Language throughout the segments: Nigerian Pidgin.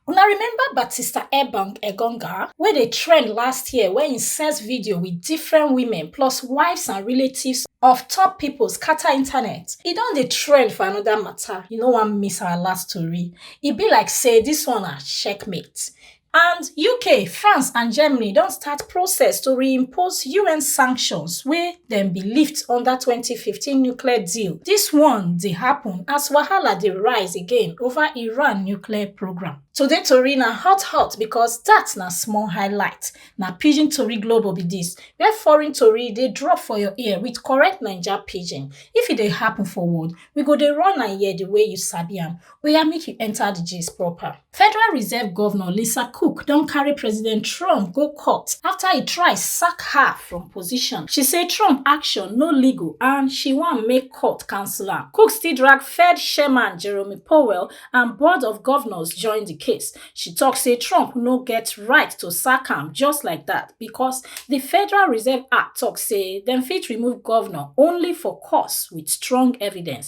Una remember Batista Ebang Egonga wey dey trend last year wey im sex video with different women plus wives and relatives of top pipo scatter internet? E don dey trend for anoda mata, you no wan miss our last tori. E be like say dis one na checkmate. And UK, France and Germany don start process to reimpose UN sanctions wey dem bin lift under 2015 nuclear deal dis one dey happun as wahala dey rise again over iran nuclear programme today tori na hot hot becos dat na small highlight na pidgin tori global be dis wia foreign tori dey drop for your ear wit correct naija pidgin if e dey happun for world we go dey run am here di way you sabi am oya make you enta di gist proper federal reserve govnor lisa cook don carry president trump go court afta e try sack her from position she say trump action no legal and she wan make court cancel am cook still drag fed chairman jeremy powell and board of govnors join di case she tok say trump no get right to sack am just like dat becos di federal reserve act tok say dem fit remove govnor only for cause wit strong evidence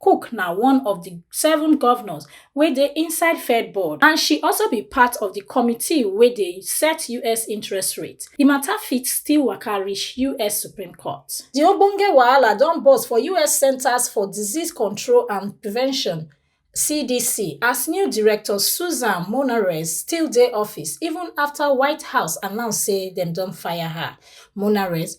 cook na one of di seven govnors wey dey inside fed board and she also be part of di committee wey dey set us interest rate di mata fit still waka reach us supreme court di ogbonge wahala don burst for us centres for disease control and prevention cdc as new director susan monarez still dey office even afta white house announce say dem don fire her monarez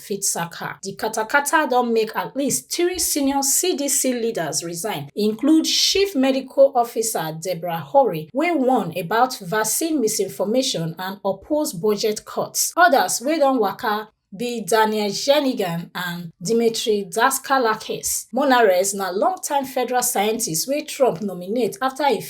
fit sack her. Di katakata don make at least three senior CDC leaders resign, include Chief Medical Officer Deborah Hori, wey warn about vaccine misinformation and oppose budget cuts. Odas wey don waka be Daniel Jernigan and Dmitry Daskalakis. Monarez na long-time federal scientist wey Trump nominate afta e.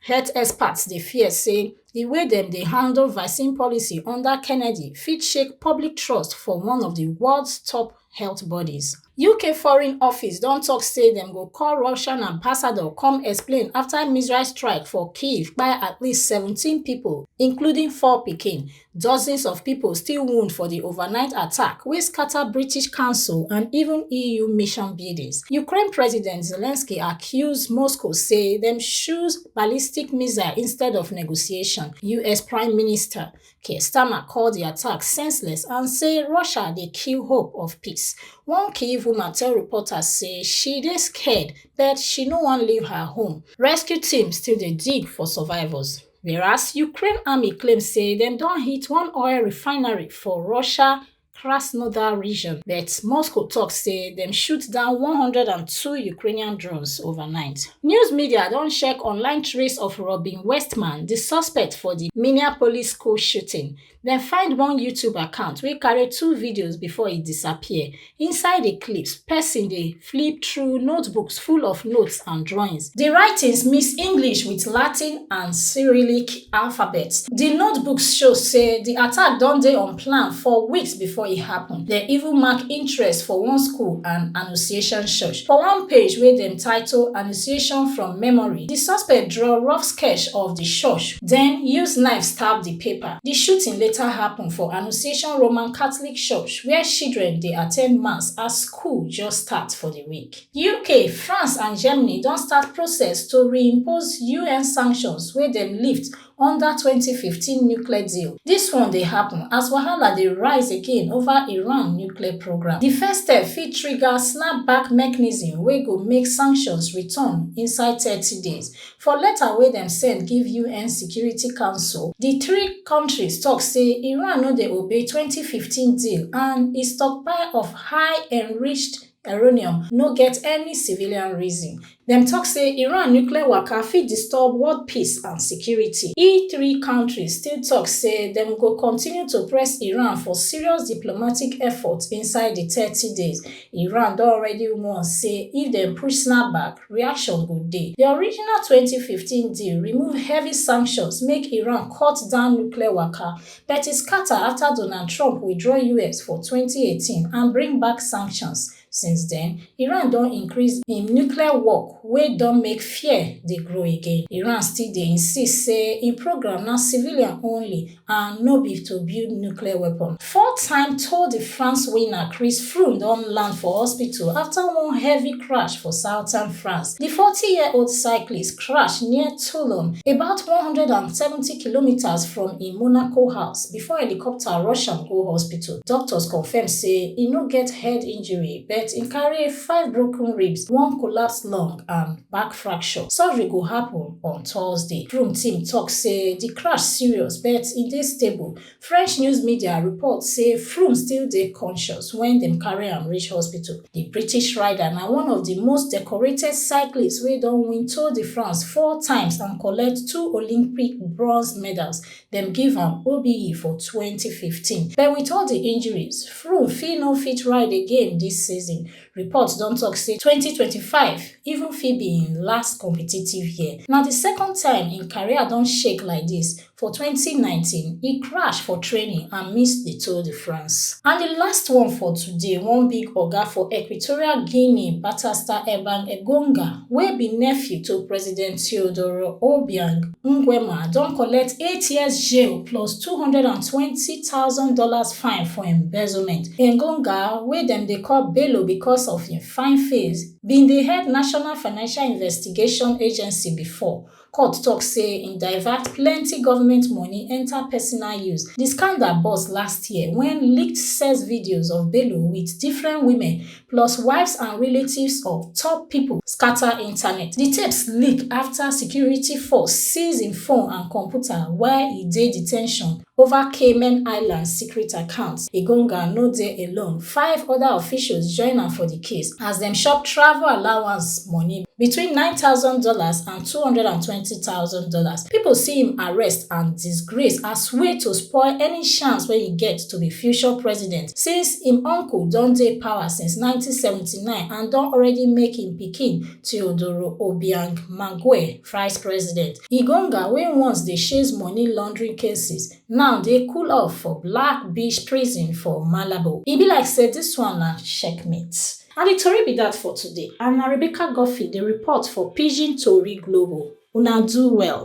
Health experts dey fear say di way dem dey handle vaccine policy under Kennedy fit shake public trust for one of di world top health bodies. UK Foreign Office don tok say dem go call Russian ambassador come explain afta missile strike for Kyiv kpai at least seventeen pipo, including four pikin, Dozens of pipo still wound for di overnight attack wey scata British Council and even EU mission buildings. Ukraine President Zelensky accuse Moscow say dem choose ballistic missile instead of negotiation. US Prime Minister Keir Starmer call di attack senseless and say Russia dey kill hope of peace. One Kyiv woman tell reporters say she dey scared but she no wan leave her home. Rescue team still dey dig for survivors. whereas ukraine army claim say dem don hit one oil refinery for russia krasnodar region but moscow tok say dem shoot down 102 ukrainian drones overnight news media don check online trace of robin westman di suspect for di minneapolis school shooting Dem find one YouTube account wey carry two videos before e disappear. Inside the clips, person dey flip through notebooks full of notes and drawings. The writings mix English with Latin and Cyrillic alphabets. The notebooks show say the attack don dey on plan for weeks before e happen. Dem even mark interest for one school and Annunciation Church. For one page wey dem title Annunciation from Memory, the suspect draw rough sketch of the church, then use knife stab the paper. Di shooting later happun for Annunciation Roman Catholic Church wia children dey attend mass as school just start for di week. UK, France and Germany don start process to reimpose un sanctions wey dem lift under twenty fifteen nuclear deal. Dis one dey happun as wahala dey rise again ova Iran nuclear programme. Di first step fit trigger snap-back mechanism wey go make sanctions return inside thirty days, For letter wey dem send give UN Security Council, di three kontris tok say Iran no dey obey twenty fifteen deal and e stockpile of high enriched uranium no get any civilian reason. Dem tok say Iran nuclear waka fit disturb world peace and security. E three kontris still tok say dem go continue to press Iran for serious diplomatic efforts inside di thirty days. Iran don already warn say if dem push snapback, reaction go dey. Di original twenty fifteen deal remove heavy sanctions make Iran cut down nuclear waka, but e scatter afta Donald Trump withdraw us for twenty eighteen and bring back sanctions. Since den, Iran don increase im nuclear work wey don make fear dey grow again. Iran still dey insist say im programme na civilian only and no be to build nuclear weapon. Four time Tour de France winner Chris Froome don land for hospital after one heavy crash for southern France. The 40-year-old cyclist crashed near Toulon, about 170 kilometers from im Monaco house before helicopter rush am go hospital. Doctors confirm say e no get head injury but im carry five broken ribs, one collapsed lung and back fracture. Surgery go happen on thursday broom team tok say di crash serious but e dey stable french news media report say froome still dey conscious wen dem carry am reach hospital di british rider na one of di most decorated cyclists wey don win tour de france four times and collect two olympic bronze medals dem give am obe for 2015 but wit all di injuries froome fit no fit ride again dis season Reports don tok say 2025 even fit be im last competitive year. Na di second time im career don shake like dis. For 2019, e crash for training and miss di Tour de France. And di last one for today, one big oga for Equatorial Guinea, Batasta Ebang Egonga, wey be nephew to President Teodoro Obiang Nguema, don collect eight years jail plus two hundred and twenty thousand dollars fine for embezzlement. Engonga, wey dem dey call Bello because of im fine face, bin dey head National Financial Investigation Agency before. Court tok say im divert plenty government money enta personal use. Di scandal burst last year wen leaked sex videos of Bello wit different women plus wives and relatives of top pipo scata internet. Di tapes leak afta security force seize im phone and computer while e dey detention over Cayman Islands secret accounts. Igonga no dey alone, five oda officials join am for di case as dem chop travel allowance money between nine thousand dollars and two hundred and twenty thousand dollars. Pipo see im arrest and disgrace as way to spoil any chance wey e get to be future president since im uncle don dey power since 1979 and don already make im pikin Teodoro Obiang Mangue vice president. Igonga wey once dey chase money laundering cases now dey cool off for Black Beach prison for Malabo. E be like say dis one na checkmate. Na di tori be dat for today and na Rebecca Guffey dey report for Pidgin Tori Global. Una do well.